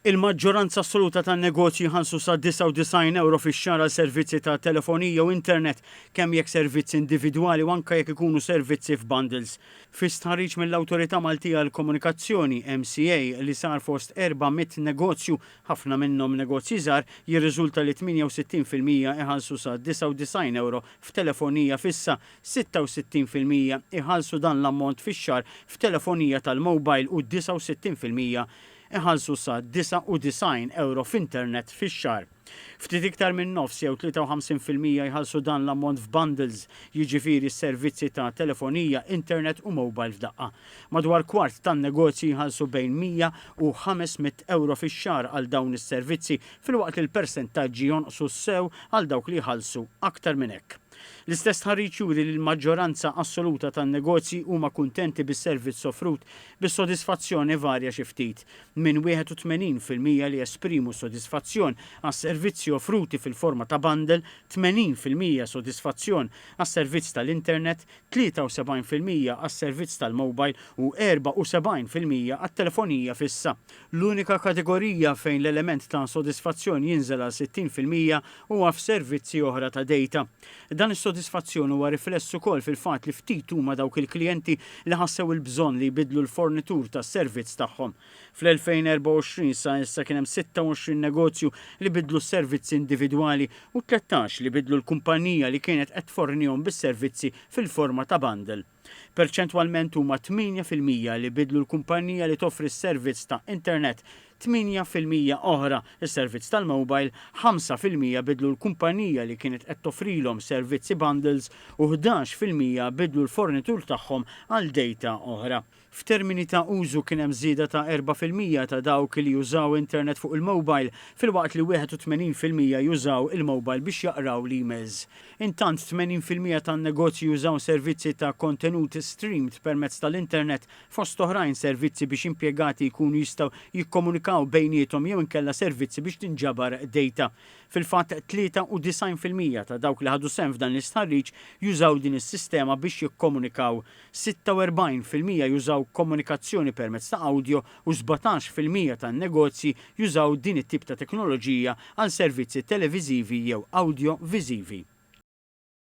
Il-maġġoranza assoluta tan-negozji jħallsu sa 99 ewro fix-xahar għal servizzi ta' telefonija u internet, kemm jekk servizzi individwali u anke jekk ikunu servizzi f'bundles. Fi stħarriġ mill-Awtorità Maltija għall-Komunikazzjoni, MCA, li sar fost 400 negozju, ħafna minnhom negozji żgħar, jirriżulta li 68 fil-mija iħallsu sa 99 ewro f'telefonija fissa, 66 fil-mija jħallsu dan l-ammont fix-xahar f'telefonija tal-mowbajl u 69 fil-mija jħallsu sa 99 ewro f'internet fix-xahar. Ftit iktar minn nofs jew 53 fil-mija jħallsu dan l-ammont f'bundles, jiġifieri s-servizzi ta' telefonija, internet u mowbajl f'daqqa. Madwar kwart tan-negozji jħallsu bejn 100 u 500 ewro fix-xahar għal dawn is-servizzi filwaqt li l-persentaġġi jonqsu sew għal dawk li jħallsu aktar minn hekk. L-istess stħarriġ juri li l-maġġoranza assoluta tan-negozji huma kuntenti bis-servizz offrut, bis-sodisfazzjon ivarja xi ftit, minn 81 fil-mija li esprimu s-sodisfazzjon għas-servizzi offruti fil-forma ta' bundle, 80 fil-mija sodisfazzjon għas-servizz tal-internet, 73 fil-mija għas-servizz tal-mobile u 74 fil-mija għat-telefonija fissa. L-unika kategorija fejn l-element ta' sodisfazzjon jinżel għal 60 fil-mija huwa f'servizzi oħra ta' dejta. Dan is-sodisfazzjon huwa rifless ukoll fil-fatt li ftit huma dawk il-klijenti li ħassew il-bżonn li jbiddlu l-fornitur tas-servizz tagħhom. Fl-2024 sa issa kien hemm 26 negozju li biddlu s-servizzi individwali u tlettax li biddlu l-kumpannija li kienet qed tfornihom bis-servizzi fil-forma ta' bundle. Perċentwalment huma 8 fil-mija li biddlu l-kumpannija li toffri s-servizz ta' internet, 8 fil-mija oħra s-servizz tal-mowbajl, 5 fil-mija biddlu l-kumpannija li kienet qed toffrilhom servizzi bundles u 11 fil-mija biddlu l-fornitur tagħhom għal dejta oħra. F'termini ta' użu kien hemm żieda ta' erba' fil-mija ta' dawk li jużaw internet fuq il-mowbajl filwaqt li 81 fil-mija jużaw il-mowbajl biex jaqraw l-emails. Intant, 80 fil-mija tan-negozji jużaw servizzi ta' kontenut streamed permezz tal-internet, fost oħrajn servizzi biex impjegati jkunu jistgħu jikkomunikaw bejniethom jew inkella servizzi biex tinġabar dejta. Fil-fatt, 93 fil-mija ta' dawk li ħadu sehem f'dan l-istħarriġ jużaw din is-sistema biex jikkomunikaw. 46 fil-mija jużaw komunikazzjoni permezz ta' awdjo u 17 fil-mija tan-negozji jużaw din it-tip ta' teknoloġija għal servizzi televiżivi jew awdjo-viżivi.